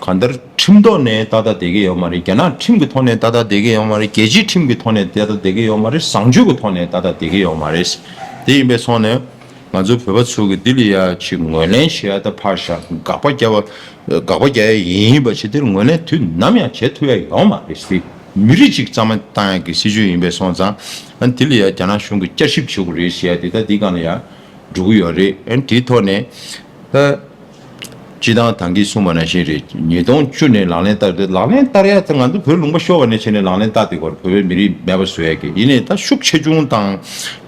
གང་ལྟར་ཁྲིམས་ཐོག་ནས་ཏག་ཏག་བསྡད་ཀྱི་ཡོད་མ་རེད་རྒྱ་ནག་ཁྲིམས་ཀྱི་ཐོག་ནས་ཏག་ཏག་བསྡད་ཀྱི་ཡོད་མ་རེད་རྒྱལ་སྤྱིའི་ཁྲིམས་ཀྱི་ཐོག་ནས་ཏག་ཏག་བསྡད་ཀྱི་ཡོད་མ་རེད་བཟང་སྤྱོད་ཀྱི་ཐོག་ནས་ཏག་ཏག་བསྡད་ཀྱི་ཡོད་མ་རེད། དེ་ཡིན་པའི་ཐོག་ནས་ང་ཚོ་བོད་པ་ཚོ་གི་འདི་ལ་ཡ་ཆེ་ངོས་ལེན་བྱེད་ཡ་ད་ཕར་བཞག་དགག་པ་རྒྱབ་དགག་པ་རྒྱག་ཡ་ཡིན་པ་ཆེ་དེར་ངོས་ལེན་དུས་ནམ་ཡང་བྱེད་ཐུབ་ཡ་ཡོད་མ་རེད་སྲིད་མི་རིགས་གཅིག་གཙང་མ་བཏང་ཡ་གི་སྲིད་ཇུས་ཡིན་པའི་སོང་ཙང་འདི་ལ་ཡ་རྒྱ་ནག་གཞུང་གི་བསྐྱར་ཞིབ་བྱེད་དགོས་རེད་ཟེར་ཡ་དེ་ད་འདི་གང་ལ་ཡ་འགྲོ་གི་ཡོད་རེད་འདིའི་ཐོག་ནས། སྤྱི་བཏང་དང་གིས་གསུངས་པ་ནང་བཞིན་རེད་ཉིས་སྟོང་བཅུ་ནས་ལག་ལེན་བསྟར་དུས་ལག་ལེན་བསྟར་ཡ་ཚ་ང་ཚོ་བོད་ལུང་པ་ཤོར་བ་ནས་བྱས་ནས་ལག་ལེན་བསྟར་དུས་བར་བོད་པའི་མི་རིགས་མེད་པ་བཟོ་ཡ་གི་ཡིན་ནས་ད་ཤུགས་ཆེ་ཆུང་དང་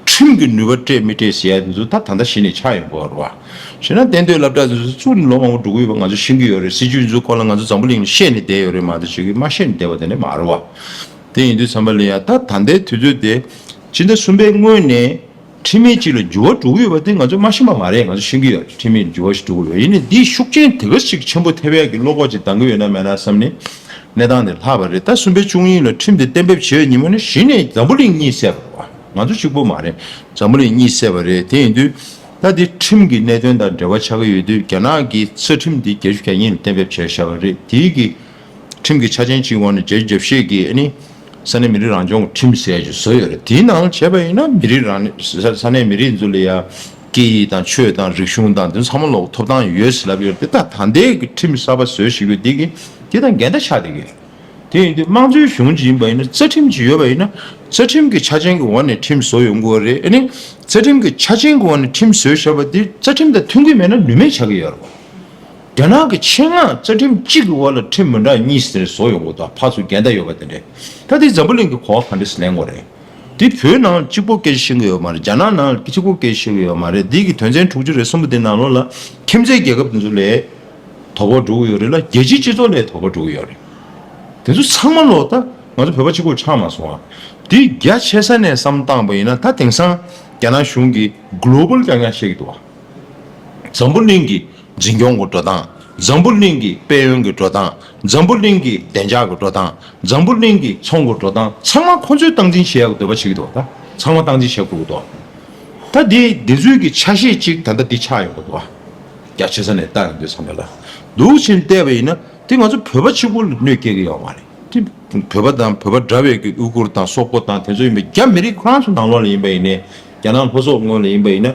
ཁྲིམས་ཀྱི་ནུས་པ་སྤྲད་མི་སྤྲད་ཟེར་ཡ་དེ་ཚོ་ད་ད་ལྟ་གཞི་ནས་ཆགས་ཡོད་དགོས་ར་བྱས་ན་གཏན་སྡོད་ལབ་གྲགས་དེ་ཚོ་ཚུར་ལོ་མང་བོ་འགྲོ་གི་ཡོད་པ་ང་ཚོ་ཤེས་ཀྱི་ཡོད་རེད་སྲིད་ཇུས་དེ་ཚོ་སྐོར་ལ་ང་ཚོ་འཛམ་བུ་གླིང་ལ་བཤད་ནས་བསྡད་ཡོད་རེད་མ་ད་བྱེད་ཀྱི་མ་བཤད་ནས་བསྡད་པ་དེ་འདྲ་མ་རེད་བ་དེ་ཡིན་དུས་ཚང་མ་ལེན་ཡ་ད་ད་ལྟའི་དུས་ཚོད་དེ་སྤྱི་ཟླ་གསུམ་པའི་སྔོན་ནས། ཁྲིམས་མེད་ཅིག་ལ་འགྱུར་བ་འགྲོ་གི་ཡོད་པ་དེ་ང་ཚོས་མ་ཤེས་པ་མ་རེད་ང་ཚོས་ཤེས་ཀྱི་ཡོད་ཁྲིམས་མེད་ལ་འགྱུར་བ་ཞིག་འགྲོ་གི་ཡོད་ཡིན་ནའི་འདིའི་ཤུགས་རྐྱེན་དེ་ག་ཞིག་ཆེན་པོ་ཐེ་བའི་གི་བློ་ཁོག་ཅིག་འདང་གི་ཡོད་ན་མེད་ན་བསམ་ནས་གནས་སྟངས་དེ་ལྷག་པ་རེད་ད་གསུམ་པའི་བཅུ་གཉིས་ལ་ཁྲིམས་དེ་གཏན་འབེབས་བྱས་པའི་ཉིན་མོ་ནས་གཞི་ནས་འཛམ་བུ་གླིང་གཉིས་བསད་པ་རེད་ང་ཚོ་གཅིག་པོ་མ་རེད་འཛམ་བུ་གླིང་གཉིས་བསད་པ་རེད་དེ་ཡིན་དུས་ད་འདི་ཁྲིམས་གི་གནད་དོན་དང་འབྲེལ་བ་ཆགས་ཀྱི་ཡོད་དུས་རྒྱ་ནག་གིས་ས་ཁྲིམས་དེ་བརྒྱད་ཅུ་གྱ་གཉིས་ལ་གཏན་འབེབས་བྱས་བཞག་པ་རེད་དེའི་གི། ཁྲིམས་ཀྱི་ཆ་ཅན་གཅིག་དབང་ནི་རྒྱལ་སྤྱིའི་རྒྱབ་བཤད་ཀྱིས་ནི་ས་གནས་མི་རིགས་རང་སྐྱོང་གི་ཁྲིམས་གསལ་ཞིག་བཟོས་ཡོད་རེད་དེའི་ནང་བྱས་པ་ཡིན་ན་མི་རིགས་རང་ས་གནས་མི་རིགས་ཚོ་ལ་ཡ། སྐད་ཡིག་དང་ཆོས་དང་རིག་གཞུང་དང་དེ་ཚང་མ་ལོག་ཐོབ་ཐང་ཡོད་ཟེར་ལབ་ཡོད་རེད་ད་ད་ལྟའི་ཁྲིམས་གསར་པ་བཟོས་ཞིག་པའི་དེ་གི་དེ་དང་འགལ་ཟླ་ཆགས་འདི་གི། དེ་ཡིན་དུས་དམངས་གཙོའི་གཞུང་གཅིག་ཡིན་པ་ཡིན་ན་རྩ་ཁྲིམས་གཅིག་ཡོད་པ་ཡིན་ན་རྩ་ཁྲིམས་ཀྱི་ཆ་ཅན་གྱི་འོག་ནས་ཁྲིམས་བཟོ་ཡོང་དགོས་རེད་ནི་རྩ་ཁྲིམས་ཀྱི་ཆ་ཅན་གྱི་འོག་ནས་ཁྲིམས་བཟོས་ཞེས་པ་དེ་རྩ་ཁྲིམས་དང་མཐུན་གྱི་མེད་ན་ནུས་མེད་ཆགས་ཀྱི་ཡོད་རེད། རྒྱ་ནག་གི་ཆེད་མངགས་རྩ་ཁྲིམས་གཅིག་གི་དབར་ལ་ཁྲིམས་མི་འདྲ་གཉིས་ཟེར་བཟོ་ཡོང་གི་དང་ཕར་ཚུར་འགལ་ཟླ་ཡོད་པ་དེ་འདྲའི་ཐ་དེ་འཛམ་བུ་གླིང་གི་གོ་བ་ག་འདྲས་ལེན་དགོས་རེད་དེ་བོད་ནང་གཅིག་པོ་སྐད་བཤད་གི་ཡོད་མ་རེད་རྒྱ་ནག་ནང་གཅིག་པོ་སྐད་བཤད་གི་ཡོད་མ་རེད་འདི་གི་དོན་ཚན་དྲུག་ཅུ་རེ་གསུམ་པོ་དེ་ནང་ལོགས་ལ་ཁྱིམ་མཚེས་རྒྱལ་ཁབ་དེ་ཚོ་ལས་དོག་པ་འགྲོ་གི་ཡོད་རེད་ལ་རྒྱལ་སྤྱིའི་སྤྱི་ཚོགས་ལས་དོག་པ་འགྲོ་གི་ཡོད་རེད་དེ་ཚོ་ཚང་མ་ལོགས་ད་ང་ཚོ་བོད་པ་གཅིག་པོར་ཆགས་མ་སོང་ཨ་འདི་རྒྱ་ཆེ་ས་ནས་བསམ་བཏང་པ་ཡིན་ན་ད་དེང་སང་རྒྱ་ནག་གཞུང་གི Global རྐྱང་རྐྱང་བཤད་གི་འདུག་ཨ། འཛམ་བུ་གླིང་གི་འཛིན་སྐྱོང་གི་འགྲོ་སྟངས། འཛམ་བུ་གླིང་གི་དཔལ་ཡོན་གྱི་འགྲོ་སྟངས། འཛམ་བུ་གླིང་གི་བདེ་འཇགས་ཀྱི་འགྲོ་སྟངས། འཛམ་བུ་གླིང་གི་ཚོང་གི་འགྲོ་སྟངས་ཚང་མ་ཁོང་ཚོས་སྟངས་འཛིན་བྱེད་ཡག་གི་འདོད་པ་ཞིག་གི་འདུག་ད་ཚང་མ་སྟངས་འཛིན་བྱེད་དགོས་གི་འདུག་ད་འདི་འདི་ཚོས་ཀྱི་ཆ་ཤས་གཅིག་ད་ལྟ་འདི་ཆགས་ཡོང་གི་འདུག་རྒྱ་ཆེ་ས་ནས་བལྟ་ཡོང་དུས་ཚང་མས་ལ་འདུག་ཕྱིན་བལྟས་པ་ཡིན་ན་འདི་ང་ཚོ་བོད་པ་གཅིག་པོ་ལ་གནོད་སྐྱེལ་གི་ཡོད་མ་རེད་དེ་བོད་པ་དང་བོད་པ་འདྲ་བའི་གི་དབུས་གུར་དང་སོག་པོ་དང་དེ་ཚོ་ཡིན་པ་རྒྱ་མི་རིགས་ཁོ་རང་ཚོ་ནང་ལོགས་ལ་ཡིན་པ་ཡིན་ནས་རྒྱ་ནག་ལྷོ་སོག་ངོས་ལ་ཡིན་པ་ཡིན་ན།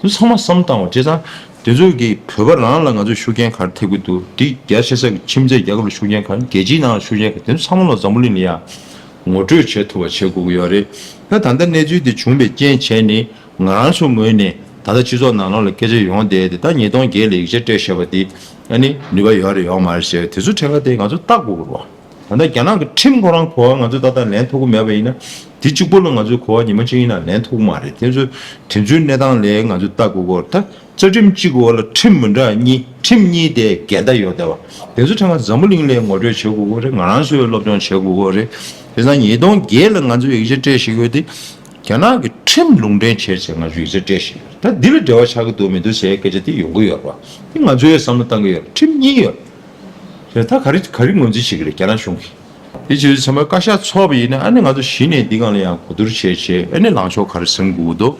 འདི་ཚང་མ་བསམ་བཏང་བ་བྱས་ཙང། དེ་ཚོས་ཀྱི་བོད་པ་རང་ལ་ང་ཚོས་ཤུགས་རྐྱེན་ག་རེ་ཐེབས་ཀྱི་འདུག་འདི་རྒྱ་ཆེ་ས་ཀྱི་ཁྱིམ་མཚེས་རྒྱལ་ཁབ་ལ་ཤུགས་རྐྱེན་ག་རེ་རྒྱལ་སྤྱིའི་ནང་ལ་ཤུགས་རྐྱེན་ག་རེ་དེ་ཚོ་ཚང་མ་ལ་འཛམ་བུ་གླིང་ལ་ཡང་ངོ་སྤྲོད་བྱེད་ཐུབ་པ་བྱེད་དགོས་ཀྱི་ཡོད་རེད། ད་ད་ལྟ་གནས་ཚུལ་འདི་བྱུང་པའི་རྐྱེན་བྱས་ནི་ང་རང་ཚོའི་ངོས་ནས་ད་ལྟ་སྤྱི་ཚོགས་ནང་ལོགས་ལ་སྐད་ཆ་ཡོང་བསྡད་དེ་ད་ཉིས་སྟོང་བརྒྱད་ལ་ཡིག་ཆ་སྤྲད་ཞེས་པ་འདི་ནི་ནུས་པ་ཡོད་རེད་ཡོད་མ་རེད་ཞེས་པ་དེ་ཚོའི་ཕྲད་ཁ་དེ་ང་ཚོས་བརྟག་དགོས་ཀྱི་རེད། ད་ལྟ་རྒྱ་ནག་གི་ཁྲིམས་ཁོ་རང་གོ་བ་ང་ཚོས་ད་ལྟ་ལེན་ཐུབ་ཀྱི་མེད་པ་ཡིན་ན། དེ་གཅིག་པུ་ལ་ང་ཚོས་གོ་བ་ཉི་མ་གཅིག་ཡིན་ན་ལེན་ཐུབ་ཀྱི་མ་རེད་དེ་ཚོ་དེ་ཚོའི་གནས་སྟངས་ལས་ང་ཚོས་ལྟ་དགོས་སྐོར་དང་རྩ་ཁྲིམས་གཅིག་གི་འོག་ལ་ཁྲིམས་མི་འདྲ་གཉིས་ཁྲིམས་གཉིས་དེ་འགལ་ཟླ་ཡོད་སྡད་པ་དེ་ཚོ་ཕྲན་ང་འཛམ་བུ་གླིང་ལས་ངོ་སྤྲོད་བྱེད་དགོས་སྐོར་རེད་ང་རང་ཚོས་སློབ་སྦྱོང་བྱེད་དགོས་སྐོར་རེད། དེ་སང་ཉིས་སྟོང་བརྒྱད་ལ་ང་ཚོས་ཡིག་ཆ་སྤྲད་བཞིན་ཡོད་དེ། རྒྱ་ནག་གི་ཁྲིམས་ལུང་འདྲེན་བྱས་ཚེ་ང་ཚོས་ཡིག་ཆ་སྤྲད་བཞིན་ཡོད་རེད་ད་འདི་ལ་འབྲེལ་བ་ཆགས་ཀྱི་འདུག་མི་འདུག་ཟེར་ཡའི་སྐད་ཆ་དེ་ཡོང་གི་ཡོད་རེད་པ་དེ་ང་ཚོས་བསམ་བློ་བཏང་གི་ཡོད་རེད་ཁྲིམས་གཉིས་ཡོད། རེད་ད་ག་རེ་ག་རེ་ངོས་འཛིན་བྱེད་ཀྱི་རེད་རྒྱ་ནག་གཞུང་གིས། དེ་བྱས་ཚེ་ཚང་མ་བཀའ་ཤག་འཚོགས་པ་ཡིན་ན་ཨ་ནི་ང་ཚོ་གཞི་ནས་འདི་གང་ལ་ཡང་གོ་བསྡུར་བྱས་བྱས་ཨེ་ནི་ལངས་ཕྱོགས་ག་རེ་ཟིན་དགོས་ཀྱི་འདུག་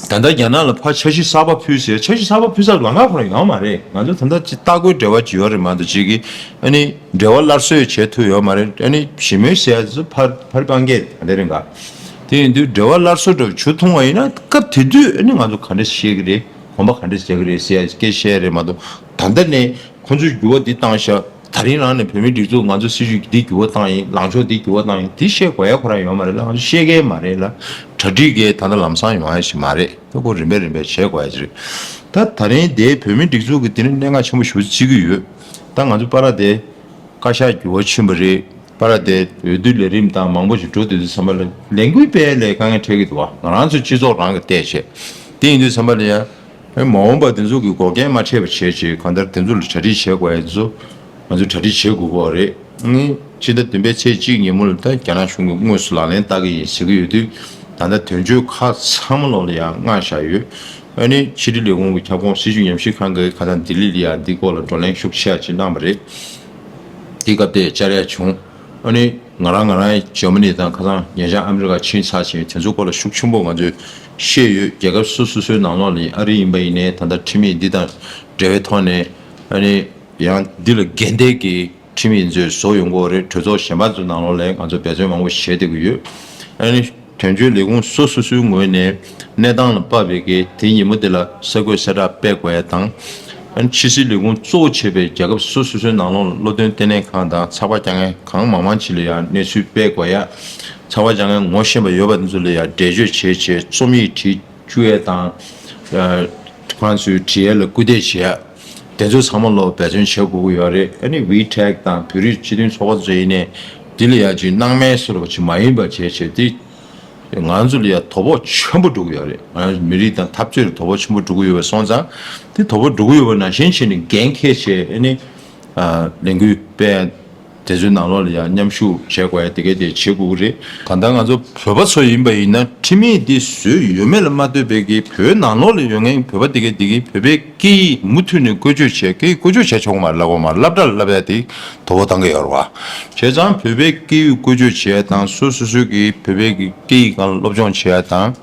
ད་ལྟ་རྒྱ་ནག་ལ་ཕར་འཆར་གཞི་གསར་པ་ཕུལ་ཟེར་འཆར་གཞི་གསར་པ་ཕུལ་ས་ལ་ང་ཁོ་ན་ཡོད་མ་རེད་ང་ཚོ་ད་ལྟ་སྟ་གོན་འབྲེལ་བ་བགྱིས་པ་རེད་མ་གཏོགས་བྱེད་ཀྱི་ཨ་ནི་འབྲེལ་བ་སླར་གསོས་བྱེད་ཐུབ་ཡོད་མ་རེད་ཨ་ནི་ཞི་མོལ་བྱས་ཚུལ་ཕར་ཕར་གང་རྒྱས་ག་རེ་རེད་འགའ་དེ་ཡིན་དུས་འབྲེལ་བ་སླར་གསོ་འགྲོ་བྱུ་ཐུང་བ་ཡིན་ན་སྐབས་དེ་དུས་ཨ་ནི་ང་ཚོ་ག་རེ་བྱེད་ཀྱི་རེད་གོམ་པ་ག་རེ་བྱེད་ཀྱི་རེད་ཟེར་སྐད་བཤད་རེད་མ་གཏོགས། ད་ལྟ་ནས་ཁོ་ཚོས་འགྱུར་བ་འདི་བཏང་ཤག་ད་རིང་རང་ནས་བོད་མིའི་སྒྲིག་འཛུགས་ང་ཚོ་སྲིད་ཇུས་འདི་འགྱུར་བ་བཏང་ཡིན་ལངས་ཕྱོགས་འདི་འགྱུར་བ་བཏང་ཡིན་དེ་བཤད་དགོས་ཡ་ཁོ་རང་ཡོད་མ་རེད་ལ་ང་ཚོ་བཤད་མཁན་མ་རེད་ལ་གྲ་སྒྲིག་མཁན་ད་ལྟ་ལམ་སང་ཡོང་ཡ་ཞིག་མ་རེད་ཁོ་རིམ་པས་རིམ་པས་བྱེད་དགོས་ཡ་ཅིག་རེད་ད་ད་རིང་དེ་བོད་མིའི་སྒྲིག་འཛུགས་ཀྱི་དེ་ནས་གནད་འགག་ཆེན་པོ་ཞུ་རྩིས་ཀྱི་ཡོད་ད་ང་ཚོ་པ་ར་དེ་བཀའ་ཤག་འགྱུར་བ་ཕྱིན་པ་རེད་པ་ར་དེ་འོས་བསྡུ་ལས་རིམ་དང་མང་པོ་ཞིག་འགྲོ་འདོད་དུས་ཚང་མ་ལས་འགུལ་སྤེལ་ལས་དཀའ་ངལ་འཕྲད་ཀྱི་འདུག་ང་རང་ཚོ་སྤྱི་ཚོགས་རང་གི་བལྟས་བྱས་དེ་ཡིན་དུས་ཚང་མ་ལ་ཡ། མ་འོངས་པར་དེ་ཚོ་གི་འགོག་རྐྱེན་མ་འཕྲད་པ་བྱེད་ཆེད་གང་ལྟར་དེ་ཚོ་ལ་གྲ་སྒྲིག་བྱེད་དགོས་ཨེ་ཚོ། ང་ཚོ་གྲ་སྒྲིག་བྱེད་དགོས་པོ་རེད། ཕྱི་ཟླ་བདུན་པའི་ཚེས་གཅིག་ཉིན་མོ་ལ་ད་རྒྱ་ནག་གཞུང་གི་དངོས་སུ་ལག་ལེན་བསྟར་གི་ཡིན་ཟེར་གི་ཡོད་དུས། ད་ལྟ་དོན་གཅོད་ཁག་ཚང་མ་ལོག་ལ་ཡང་མངགས་བཞག་ཡོད། ཨ་ནི་ཕྱི་དྲིལ་ལས་ཁུངས་ཀྱི་ཁྱབ་ཁོངས་སྲིད་ཇུས་ཉམས་ཞིབ་ཁང་གི་ཁ་སང་ལྡི་ལི་ལ་ཡང་འདི་སྐོར་ལ་བགྲོ་གླེང་ཤུགས་ཆེ་བ་ཅིག་གནང་བ་རེད། དེའི་སྐབས་དེར་བཅར་ཡ་བྱུང། ཨ་ནི། ང་རང་ང་རང་ཡི་ཇར་མ་ནི་དང་ཁ་སང་ཉེ་ཆར་ཨ་མི་རི་ཀ་ཕྱིན་ཚར་ཞིང་དེ་ཚོའི་སྐོར་ལ་ཤུགས་ཆུང་པོ་ང་ཚོས་ཤེས་ཡོད་རྒྱལ་ཁབ་སོ་སོ་སོའི་ནང་ལོགས་ལ་ཡི་ཨ་རི་ཡིན་པ་ཡིན་ནའི་ད་ལྟ་ཁྲིམས་ཡིག་འདི་དང་འབྲེལ་བའི་ཐོག་ནས་ཨ་ནི་ཡང་འདི་ལ་འགལ་འདས་ཀྱི་ཁྲིམས་ཡིག་མཛོད་བཟོ་ཡོང་གོ་རེད་གྲོས་ཚོགས་གཞན་པ་ཚོའི་ནང་ལོགས་ལས་ང་ཚོ་འབད་བརྩོན་མང་པོ་བྱེད་བསྡད་ཀྱི་ཡོད་ཨ་ནི། དོན་གཅོད་ལས་ཁུངས་སོ་སོ་སོའི་ངོས་ནས་གནས་སྟངས་ལ་དཔག་པའི་གལ་ཏེ་ཉིན་མོ་དེ་ལ་གསར་འགོད་གསལ་བསྒྲགས་སྤེལ་དགོས་ཡ་དང། ཕྱི་སྲིད་ལས་ཁུངས་གཙོ་བོ་བྱས་པའི་རྒྱལ་ཁབ་སོ་སོ་སོའི་ནང་ལོགས་ལ་བློ་འདོན་ལྟེ་གནས་ཁང་དང་ཚགས་པར་བསྐྱར་ངན་གང་མང་མང་བྱས་ལ་ཡང་གནས་ཚུལ་སྤེལ་དགོས་ཡ། ཚགས་པར་བསྐྱར་ངན་ངོ་ཤེས་པ་ཡོད་པ་དེ་ཚོ་ལ་ཡང་འགྲེལ་བརྗོད་བྱེད་ཆེད་རྩོམ་ཡིག་བྲིས་བཅུག་ཡ་དང། གང་ཚོས་བྲིས་ཡ་ལ་སྐུལ་འདེད་བྱེད་ཡ། དེ་ཚོ་ཚང་མ་བློ་འབད་བརྩོན་བྱེད་དགོས་ཀྱི་ཡོད་རེད་ཨ་ནི་བྷི་ཐེག་དང་བོད་རིགས་སྤྱི་མཐུན་ཚོགས་པ་བཅས་ཡིན་ནས་དེ་ལ་ཡང་ཅིག་སྣང་མེད་བཟོ་རོགས་ཅིག་མ་ཡིན་པ་བྱས་བྱས་ཏེ་ང་ཚོ་ལ་ཡང་དོ་ཕོག་ཆེན་པོ་འགྲོ་གི་ཡོད་རེད་ང་ཚོ་མི་རིགས་དང་འཐབ་རྩོད་ལ་དོ་ཕོག་ཆེན་པོ་འགྲོ་གི་ཡོད་པ་སོང་ཙང་དེ་དོ་ཕོག་འགྲོ་གི་ཡོད་པ་ནང་བཞིན་བྱས་ནས་འགན་འཁྱེར་བྱས་ཨ་ནི་ལས་འགུལ་སྤེལ། དེ་ཚོའི་ནང་ལོགས་ལ་ཡང་མཉམ་ཞུགས་བྱེད་དགོས་ཡ་དེ་ག་དེ་བྱེད་དགོས་རེད། ད་ལྟ་ང་ཚོ་བོད་པ་ཚོ་ཡིན་པ་ཡིན་ན་ཁྲིམས་ཡིག་འདི་བཟོས་ཡོད་མེད་ལ་མ་ལྟོས་པའི་གིས་བོད་ནང་ལོགས་ལ་ཡོད་མཁན་བོད་པ་དེ་ག་དེ་གིས་བོད་པའི་སྐད་ཡིག་མུ་མཐུད་ནས་བཀོལ་སྤྱོད་བྱེད་སྐད་བཀོལ་སྤྱོད་བྱས་ཆོག་གོ་མ་ལབ་གོ་མ་ལབ་དགྲ་ལ་ལབ་ཡ་དེ་དོ་བོ་དང་ག་ཡ་རོ་བ། བྱས་ཙང་བོད་པའི་སྐད་ཡིག་བཀོལ་སྤྱོད་བྱས་ཡ་དང་སོ་སོ་སོའི་གིས་བོད་པའི་སྐད་ཡིག་གང་ལ་སློབ་སྦྱོང་བྱས་ཡ་དང།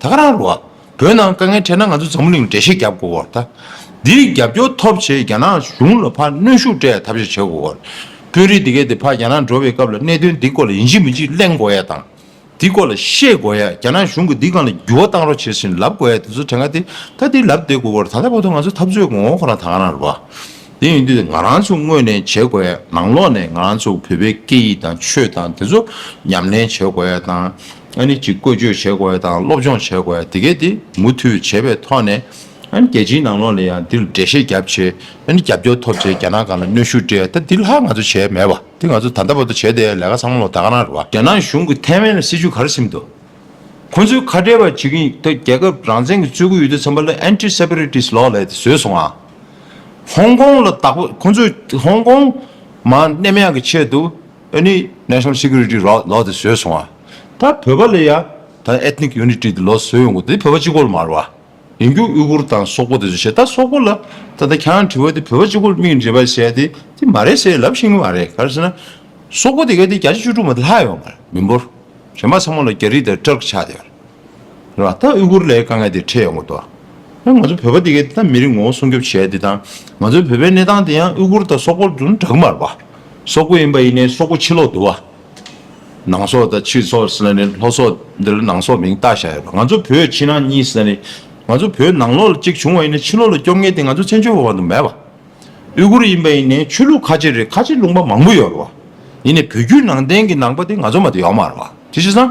ད་ག་རང་རུ་བ། བོད་ནང་དཀའ་ངལ་འཕྲད་ན་ང་ཚོ་འཛམ་བུ་གླིང་འགྲེལ་བཤད་རྒྱབ་དགོས་བོར་ད། འདིར་རྒྱབ་སྐྱོར་ཐོབ་ཆེད་རྒྱ་ནག་གཞུང་ལ་ཕར་གནོན་ཤུགས་སྤྲད་ཐབས་བྱ་བྱེད་དགོས་བོར། དཔོན་རིགས་འདི་གས་འདིར་ཕར་རྒྱ་ནག་འགྲོ་བའི་སྐབས་ལ་གནད་དོན་འདི་སྐོར་ལ་ཡིན་གཅིག་མིན་གཅིག་གླེང་དགོས་ཡས་དང། འདི་སྐོར་ལ་ཤེས་དགོས་ཡས་རྒྱ་ནག་གཞུང་གི་འདི་གང་ལ་འགྱུར་བ་བཏང་རོགས་བྱེད་བཞིན་ལབ་དགོས་ཡས་དེ་ཚོ་དེ་ག་དེ་ད་འདིར་ལབ་བསྡད་དགོས་བོར་ད་ལྟ་བར་དུ་ང་ཚོ་འཐབ་རྩོད་ཀྱི་ངོ་བོ་ཁོ་རང་ད་ག་རང་རུ་བ། དེ་ཡིན་དུས་ང་རང་ཚོ་དངོས་ནས་བྱེད་དགོས་ཡས་ནང་ལོགས་ནས་ང་རང་ཚོ་བོད་པའི་སྐད་ཡིག་དང་ཆོས་དང་དེ་ཚོ་ཉམས་ལེན་བྱེད་དགོས་ཡས་དང། ཨ་ནི་གཅིག་བཀོལ་སྤྱོད་བྱེད་དགོས་དང་སློབ་སྦྱོང་བྱེད་དགོས་དེ་གས་དེ་མུ་མཐུད་བྱེད་པའི་ཐོག་ནས་ཨ་ནི་རྒྱལ་སྤྱིའི་ནང་ལོགས་ལ་ཡང་འདིར་འགྲེལ་བཤད་རྒྱབ་ཆེད་ཨ་ནི་རྒྱབ་སྐྱོར་ཐོབ་ཆེད་རྒྱ་ནག་གང་ལ་གནོད་ཤུགས་སྤྲད་ད་འདི་ལྷག་ང་ཚོ་བྱས་མེད་པ་འདི་ང་ཚོ་ད་ལྟ་བར་དུ་བྱས་དེའི་ལས་ཀ་ཚང་མ་ལོག་ད་ག་ནང་རེད་བ། རྒྱ་ནག་གཞུང་གི་ཐའེ་ཝན་ལ་སྲིད་ཇུས་ག་རེ་བསྲིམས་འདུག་ཁོ་ཚོའི་ཁ་བྲལ་བ་བྱེད་ཀྱིན་ཡོད་ད་རྒྱལ་ཁབ་རང་བཙན་གྱི་རྩོད་རྒུ་ཡོད་དུས་ཚང་མ་ལ Anti Separatist Law ལས་དེ་བཟོས་སོང་ཨ། ཧོང་ཀོང་ལ་དག་པ་ཁོ་ཚོས་ཧོང་ཀོང་མང་གནས་མེད་ཡང་གི་ཆེད་དུ། ཨེ་ནི National Security ར་ལོག་དེ་བཟོས་སོང་བ། ད་བོད་པ་ལ་ཡང་ད Ethnic Unity དེ་ལོག་བཟོས་ཡོང་གོ་དེ་བོད་པ་ཅི་གོ་ལ་མ་ར་བ། ཡིན་རྒྱུ་དབུས་གུར་དང་སོག་པོ་དེ་ཚོ་བྱེད་ད་སོག་པོ་ལ་ད་ད་གྱང་དྲི་བ་དེ་བོད་པ་ཅི་གོ་ལ་མིག་འབྲས་པ་བྱས་དེ་དེ་མ་རེད་ཟེ་ལབ་ཤེས་ངེས་མ་རེད་ག་རེ་ཟེ་ན། སོག་པོ་དེ་ག་དེ་བརྒྱ་ཆ་བཅུ་དྲུག་མ་དེ་ལྷག་ཡོད་མ་རེད་མི་འབོར། བྱེ་མ་ཚང་མ་ལ་རྒྱ་རིགས་དང་སྤྲར་ཆགས་དེ། ད་དབུས་གུར་ལའི་དཀའ་ངལ་དེ་འཕྲད་ཡོང་གི་འདུག་ང་ཚོ་བོད་པ་དེ་གས་ད་མི་རིགས་ངོ་བོ་སྲུང་སྐྱོབ་བྱས་དེ་དང་ང་ཚོའི་བོད་པའི་གནས་སྟངས་དེ་ཡང་དབུས་གུར་དང་སོག་པོར་དུ་འདྲག་མར་བ། སོག་པོ་ཡིན་པ་ཡིན་ནའི་སོག་པོ་ཕྱི་ལོག་དུ་བ། ནང་སོག་དང་ཕྱི་སོག་ཟེར་ན་ནི་ལྷོ་སོག་འདིར་ནང་སོག་མིང་བཏགས་བཞག་ཡོད་པ་ང་ཚོ་བོད་ཕྱི་ནང་གཉིས་ཟེར་ན་ནི་ང་ཚོ་བོད་ནང་ལོག་ལ་གཅིག་བྱུང་བ་ཡིན་ན་ཕྱི་ལོག་ལ་སྐྱོབ་ངེས་དེ་ང་ཚོ་བཙན་བྱོལ་བ་བ་དུ་མེད་པ། དབུས་གུར་ཡིན་པ་ཡིན་ནའི་ཆོས་ལུགས་ཁ་ཆེ་རེད་ཁ་ཆེ་ལུང་པ་མང་པོ་ཡོད་པ། ཡིན་ནའི་བོད་བརྒྱུད་ནང་བསྟན་གྱི་ནང་པ་དེ་ང་ཚོ་མ་དུ་ཡོད་མར་བ་དེ་བྱས་ཙང་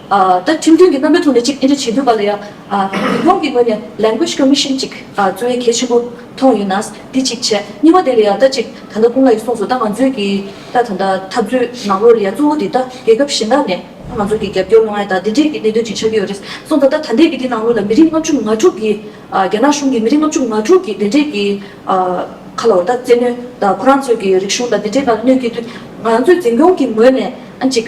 ད་ཁྲིམས་མཐུན་གྱི་རྣམ་པའི་ཐོག་ནས་ཅིག་འདྲི་བྱེད་འདོད་པ་ལ་ཡང། ཉི་ཧོང་གི་ངོས་ནས Language Commission ཅིག་བཙུགས་ཡས་གལ་ཆེན་པོ་མཐོང་ཡོད་ན་འདི་ཅིག་བྱས། གཉིས་པ་དེ་ལ་ཡང་ད་ཅིག་ད་ལྟ་ཀུན་ལ་ཡི་གསུངས་སོ་ད་ང་ཚོས་ཀྱི་ད་ད་ལྟ་འཐབ་རྩོད་ནང་ལོགས་ལ་ཡང་གཙོ་བོ་དེ་ད་རྒྱལ་ཁབ་གཞན་དག་ནས་ད་ང་ཚོ་གྱི་རྒྱབ་སྐྱོར་གནང་ཡས་ད་འདི་འདྲས་ཀྱི་གནད་དོན་ཅིག་ཆགས་ཀྱི་ཡོད་རེད་གསུངས་ད་ད་ད་འདས་ཀྱི་དེ་ནང་ལོགས་ལ་མི་རིགས་ལྔ་བཅུ་ང་དྲུག་གི་རྒྱ་ནག་གཞུང་གི་མི་རིགས་ལྔ་བཅུ་ང་དྲུག་གི་འདི་འདྲས་ཀྱི་ཁ་ལོ་ད་བཙན་གནོན་ད་ཁོ་རང་ཚོས་ཀྱི་རིག་གཞུང་ད་འདི་འདྲས་ད་གནོད་ཀྱི་དུས་ང་ཚོས་འཛིན་སྐྱོང་གི་ངོས་ནས་ཨ་ཅིག།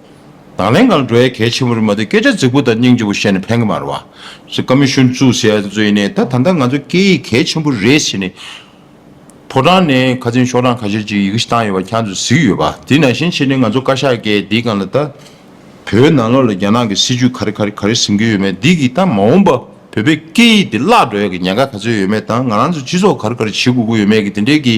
དང་ལེན་གང་འགྲོའི་གལ་ཆེན་པོ་རེད་མ་གཏོགས་སྐད་ཆ་རྫིག་པོ་དང་སྙིང་རྗེ་པོ་བཤད་ནས་ཕན་གི་མ་རེད་བ། ཀ་མི་ཤོན་བཙུགས་ཟེར་ཡ་ཚོས་ནས་ད་ད་ལྟ་ང་ཚོ་སྐད་ཡིག་གལ་ཆེན་པོ་རེད་ཟེར་ནས། ཕོ་བྲང་ནས་ཁ་ཚིན་ཤོག་གྲངས་ཁ་ཤས་ཅིག་ཡི་གེ་བཏང་ཡོད་པ་ཁྱང་ཚོས་གཟིགས་ཡོད་བ། དེ་ནང་བཞིན་བྱས་ནས་ང་ཚོ་བཀའ་ཤག་གིས་འདི་གང་ལ་ད། བོད་ནང་ལོགས་ལ་རྒྱ་ནག་གི་སྲིད་ཇུས་ག་རེ་ག་རེ་ག་རེ་ཟིན་གི་ཡོད་མེད་འདི་གིས་ད་མ་འོངས་པ་བོད་པའི་སྐད་ཡིག་འདི་བརླག་འགྲོ་ཡ་གི་ཉེན་ཁ་ག་ཚོད་ཡོད་མེད་དང་ང་རང་ཚོ་སྤྱི་ཚོགས་ག་རེ་ག་རེ་བྱེད་དགོས་ཀི་ཡོད་མེད་གི་དེ་འདྲའི་གི།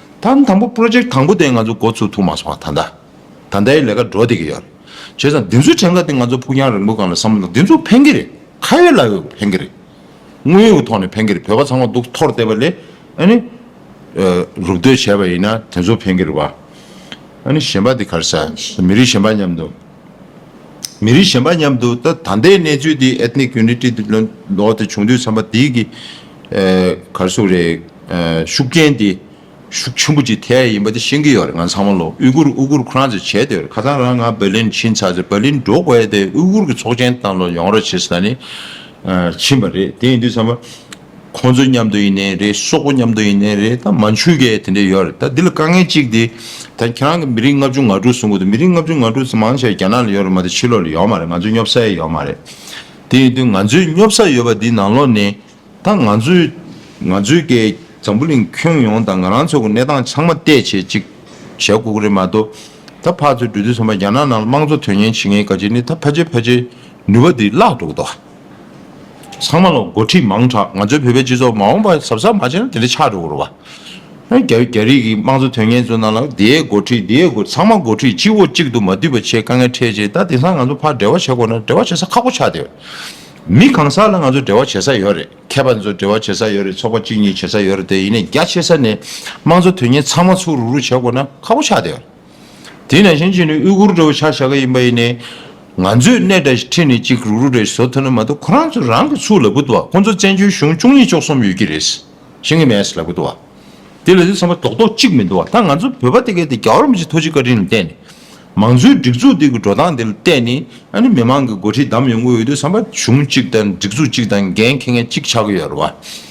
དང་དང་པོ Project དང་པོ་དེ་ང་ཚོ་འགོ་ཚུགས་ཐུབ་མ་སོང་བ་ད་ལྟ་ད་ལྟའི་ལས་ཀ་འགྲོ་བསྡད་ཀྱི་ཡོད། བྱས་ཙང་འདི་ཚོའི་ཕྲན་ཁ་དེ་ང་ཚོ་ཕུགས་རྒྱང་རིང་པོ་གང་ལ་བསམ་ན་འདི་ཚོ་ཕན་གྱི་རེད་ཁ་ཡོད་ལག་ཡོད་ཕན་གྱི་རེད། དངོས་ཡོད་ཀྱི་ཐོག་ནས་ཕན་གྱི་རེད་བོད་པ་ཚང་མ་སྡུག་ཐོར་བསྡད་པ་ལས་ཨཱ་ནི། རུབ་སྡོད་བྱས་པ་ཡིན་ན་དེ་ཚོ་ཕན་གྱི་རེད་བ། ཨཱ་ནི་གཞན་པ་དེ་གར་ཟ་མི་རིགས་གཞན་པ་མཉམ་དུ། མི་རིགས་གཞན་པ་མཉམ་དུ་ད་ལྟའི་གནས་ཚུལ་འདི Ethnic Unity Diplomate འདི་བྱུང་དུས་ཚང་མ་དེ་གི་གར་སོ་རེད། ཤུགས་རྐྱེན་དེ་ཤུགས་ཆེན་པོ་ཅིག་ཐེ་ཡ་ཡིན་པ་དེ་ཤེས་ཀྱི་ཡོད་རེད་ང་ཚང་མ་ལོ་དབུས་གུར་དབུས་གུར་ཁོ་རང་ཚོས་བྱས་དེ་རེད་ཁ་སང་རང་ང Berlin ཕྱིན་ཚར་རྗེས Berlin འགྲོ་དགོས་དེ་དབུས་གུར་གྱི་ཚོགས་ཆེན་དང་ལོ་ཡོང་རོགས་བྱེད་ས་ནི་ཕྱིན་པ་རེད་དེ་ཡིན་དུས་ཚང་མ། ཁོང་ཚོའི་མཉམ་དུ་ཡིན་ནའི་རེད་སོག་པོ་མཉམ་དུ་ཡིན་ནའི་རེད་ད་མ་འཆུ་གས་དེ་འདྲས་ཡོད་རེད་ད་འདི་ལ་དཀའ་ངལ་གཅིག་དེ་ད་ཁྱེད་རང་གི་མི་རིགས་ལྔ་བཅུ་ང་དྲུག་གསུང་གི་འདུག་མི་རིགས་ལྔ་བཅུ་ང་དྲུག་དེ་མང་ཆེ་བ་རྒྱ་ནག་ལ་ཡོད་རེད་མ་ད་ཕྱི་ལོག་ལ་ཡོད་མ་རེད་ང་ཚོའི་སྙོབ་ས་ཡས་ཡོད་མ་རེད་དེ་ཡིན་དུས་ང་ཚོའི་སྙོབ་ས་ཡོད་པ་འདི་ནང་ལོག་ནས་ད་ང་ཚོའི་ང་ཚོའི་གས་འཛམ་བུ་གླིང་ཁྱོན་ཡོངས་ད་ང་རང་ཚོ་གི་གནས་སྟངས་ཆང་མ་བལྟས་བྱས་ཅིག་བྱས་དགོས་ཀི་རེད་མ་ད་ད་ཕག་ཚོའི་འགྲོས་འདི་ཚོ་མ་རྒྱ་ནག་ནང་ལ་དམངས་གཙོ་དོན་གཉེར་བྱེད་མཁན་ག་ཅིག་ནི་ད་ཕ་ཆེ་ཕ་ཆེ་ནུས་པ་འདི་བརླག་འགྲོ་གི་འདུག། ཚང་མ་ལ་འགོ་ཁྲིད་མང་དྲགས་ང་ཚོའི་བོད་པའི་སྤྱི་ཚོགས་མ་འོངས་པ་གཟབ་གཟབ་མ་བྱས་ན་དེ་འདྲ་ཆགས་འགྲོ་གི་རེད་བ། རྒྱ་རིགས་ཀྱི་དམངས་གཙོ་དོན་གཉེར་ཚོ་རྣམས་ལ་དེའི་འགོ་ཁྲིད་དེའི་འགོ་ཚང་མ་འགོ་ཁྲིད་གཅིག་འོག་གཅིག་ཏུ་མ་བསྡུས་པ་བྱས་དཀའ་ངལ་འཕྲད་རྗེས་ད་དེང་སང་ང་ཚོ་ཕར་འབྲེལ་བ་བྱེད་དགོས་ན་འབྲེལ་བ་བྱེད་ས་ཁག་པོ་ཆགས་བསྡད། མི་གང་ས་ལ་ང་ཚོ་འབྲེལ་བ་བྱེད་ས་ཡོད་རེད་མཁས་པ་ཚོ་འབྲེལ་བ་བྱེད་ས་ཡོད་རེད་ཚོགས་པ་གཅིག་གཉིས་བྱེད་ས་ཡོད་རེད་དེ་ཡིན་ནས་རྒྱ་ཆེ་ས་ནས་དམངས་གཙོ་དོན་གཉེར་ཚང་མ་ཚུགས་རུག་རུག་བྱེད་དགོས་ན་ཁག་པོ་ཆགས་བསྡད། དེས་ན་ཞིང་ཆེན་ནི་དབུལ་སྐུར་འགྲོ་བའི་ཆ་བཞག་གི་ཡིན་པ་ཡིན། ང་ཚོས་གནས་དང་ཁྲི་ནས་གཅིག་རུག་རུག་རེ་བཟོ་ཐུབ་ན་མ་གཏོགས་ཁོ་རང་ཚོ་རང་གི་ཚུགས་ལ་བུད་དོ་ཁོང་ཚོ་བཙན་བྱོལ་གཞུང་བཅུ་གཉིས་བཅུ་གསུམ་ཡོད་ཀྱི་རེད། ཤིང་གི་མེས་ལ་བུད་དོ། དེ་ལས་ཚེ་ཚང་མ་རྡོག་རྡོག་གཅིག་མི་འདུག་ད་ང་ཚོ་བོད་པ་དེ་གས་དེ་རྒྱ་གར་མི་ཆེ་ཐོ་གཅིག་བཀའ་དྲིན་ལ་བརྟེན་ནས། མང་གཙོའི་སྒྲིག་འཛུགས་དེ་གི་འགྲོ་སྟངས་དེ་ལ་བརྟེན་ནས་ཨ་ནི་མི་མང་གི་འགོ་ཁྲིད་བདམས་ཡོང་གི་ཡོད་དུས་ཚང་མ་གཞུང་གཅིག་དང་སྒྲིག་འཛུགས་གཅིག་དང་འགན་འཁེལ་མཁན་གཅིག་ཆགས་ཀྱི་ཡོད་རེད་བ།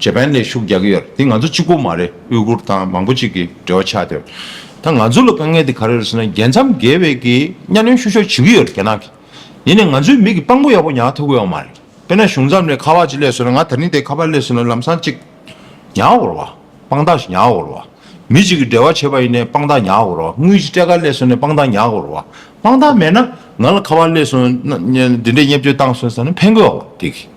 ཇེ་པན་ལས་ཤུགས་རྒྱག་གི་ཡོད་རེད་དེ་ང་ཚོ་གཅིག་པོ་མ་རེད་དབུས་གུར་དང་མང་པོ་གཅིག་གི་འབྲེལ་བ་ཆགས་ཏེ། ད་ང་ཚོ་ལ་དཀའ་ངལ་དེ་ག་རེ་རེད་ཟེར་ན་རྒྱལ་མཚམས་བརྒལ་བའི་གི་གཉའ་གནོན་ཤུགས་ཤོག་བྱེད་ཀྱི་ཡོད་རེད་རྒྱ་ནག་གིས་ཡིན་ནའི་ང་ཚོའི་མིག་གི་དཔང་པོ་ཡག་པོ་ཉག་ཐོ་གོ་ཡོང་མ་རེད་དཔེར་ན་གཞུང་མཚམས་ལས་ཁ་བ་ཅིག་སླེབས་ཟེར་ན་ང་ད་རིང་དེ་ཁ་བ་སླེབས་ཟེར་ན་ལམ་སང་ཅིག་ཉག་བོར་བ་དཔང་རྟགས་ཤིག་ཉག་བོར་བ་མི་གཅིག་གི་འབྲེལ་བ་བྱེད་པ་ཡིན་ནའི་དཔང་རྟགས་ཉག་བོར་བ་དངུལ་གྱི་སྤྲད་ཁ་སླེབས་ཟེར་ནའི་དཔང་རྟགས་ཉག་བོར་བ་དཔང་རྟགས་མེད་ན་ང་ལ་ཁ་བ་སླེབས་སོང་ན་འདི་འདྲའི་བརྙས་བཅོས་བཏང་སོང་ཟེར་ན་ཕན་གོ་ཡོང་རེད་དེ་གི།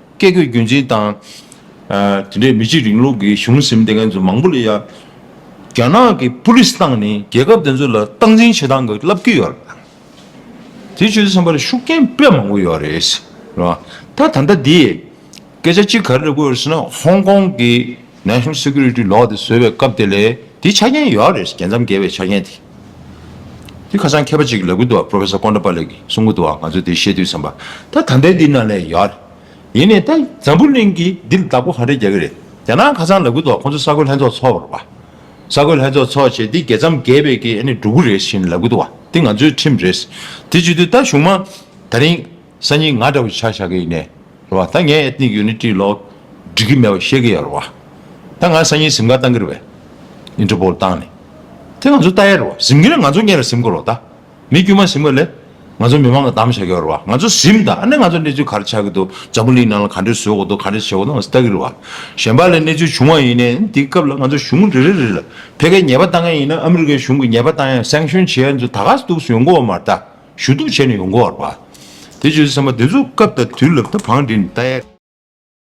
བཀས་བཀོད་རྒྱུད་འཛིན་དང། དེ་འདྲའི་མི་གཅིག་རིང་ལུགས་ཀྱི་གཞུང་ཟིན་བསྡད་མཁན་ཚོ་མང་པོ་ལ། རྒྱ་ནག་གི་པུ་ལིས་ཏང་ནི་རྒྱལ་ཁབ་དེ་ཚོ་ལ་སྟངས་འཛིན་བྱེད་སྟངས་ཀྱི་བསླབ་ཀྱི་ཡོད་རེད། དེ་ཆོས་སེམས་པ་ལ་ཤུགས་རྐྱེན་དཔེ་མང་པོ་ཡོད་རེད། ད་ད་ལྟ་དེས་སྐད་ཆ་གཅིག་ག་རེ་རེད་བཀོད་ཡོད་ཟེར་ན་ཧོང་ཀོང་གི National Security Law། དེ་བཟོས་པའི་སྐབས་དེ་ལས་དེའི་ཆ་རྐྱེན་ཡོད་རེད། རྒྱལ་མཚམས་བརྒལ་བའི་ཆ་རྐྱེན་དེ། དེ་ཁ་སང་མཁས་པ་ཅིག་གི་ལས་ཁུར་དུའང Professor Kondapalli གི་གསུང་ཁུར་དུའང་ང་ཚོས་དེ་ཤེས་དུས་བསམ་པ། ད་དམ་པའི་འདི་ནང་ལས་ཡོད་རེད། ཡིན་ནས་ད་འཛམ་བུ་གླིང་གིས་འདི་ལ་བདག་པོ་ག་འདྲ་རྒྱག་གི་རེད། རྒྱ་ནག་ཁ་སང་ལས་ཁུར་དུའང་ཁོང་ཚོ་ས་རྒོད་ལྷན་ཚོགས་འཚོགས་པར་བ། ས་རྒོད་ལྷན་ཚོགས་འཚོགས་བྱས་འདི་རྒྱལ་མཚམས་བརྒལ་བའི་གི་ཨ་ནི་འགྲོ་གི་རེད་བཞིན་ལས་ཁུར་དུ་བ། འདི་ང་ཚོའི་ཁྲིམས་རེད། དེ་བརྗོད་དུས་ད་གཞུང་མང། ད་རིང། སང་ཉིན་ང་འདྲ་བོ་ཆགས་ཆགས་ཀྱི་ཡིན་ནས་རེད་བ་ད་ངས་ཨེཏ་ནིག་ཡུ་ནི་ཏི་ལོག་འགྲིག་གི་མེད་པ་ཤེས་ཀྱི་ཡོད་རེད་བ་ད་ང་སང་ཉིན་གཟིམ་ཁ་བཏང་གི་རེད་བས་ཨིན་ཏྲི་པོལ་བཏང་ནས་དེ་ང་ཚོ་བལྟ་ཡས་རེད་བ་གཟིམ་གི་ན་ང་ཚོ་གཉེན་ལ་གཟིམ་དགོས་རོགས་ད་མི་དཀྱུས་མ་གཟིམ་གི་ལས་ང་ཚོ་མི་མང་གི་གདམ་བྱ་གི་ཡོད་རེད་བ་ང་ཚོ་གཟིམ་ད་ནི་ང་ཚོ་གནས་ཚུལ་ག་རེ་ཆགས་ཀྱི་འདུག་འཛམ་བུ་གླིང་ནང་ལ་ག་འདྲས་བཟོས་ཀྱི་འདུག་ག་འདྲས་བྱས་ཀྱི་འདུག་ང་ཚོ་བལྟ་གི་རེད་བ་གཞན་པ་ལས་གནས་ཚུལ་བྱུང་བ་ཡིན་ནས་འདི་སྐབས་ལ་ང་ཚོ་གཞུང་རེ་རེ་རེ་ལ་ཕལ་སྐད་ཉེས་པ་བཏང་ཡས་ཡིན་ན་ཨ་མི་རི་ཀའི་གཞུང་གི་ཉེས་པ་བཏང་ཡས་སེང་ཤོན་བྱེད་ཡས་ཚོ་ད་ག་ས་འདུག་གསུང་ཡོང་གི་འོ་མ་རེད་ད། ཞུ་གཏུག་བྱས་ནས་ཡོང་གོ་བར་བ། དེ་བྱོས་སེམས་པ་དེ་ཚོ་སྐབས་དང་དུས་ལབ་ད་བང་འདི་ནས་ལྟ་ཡ།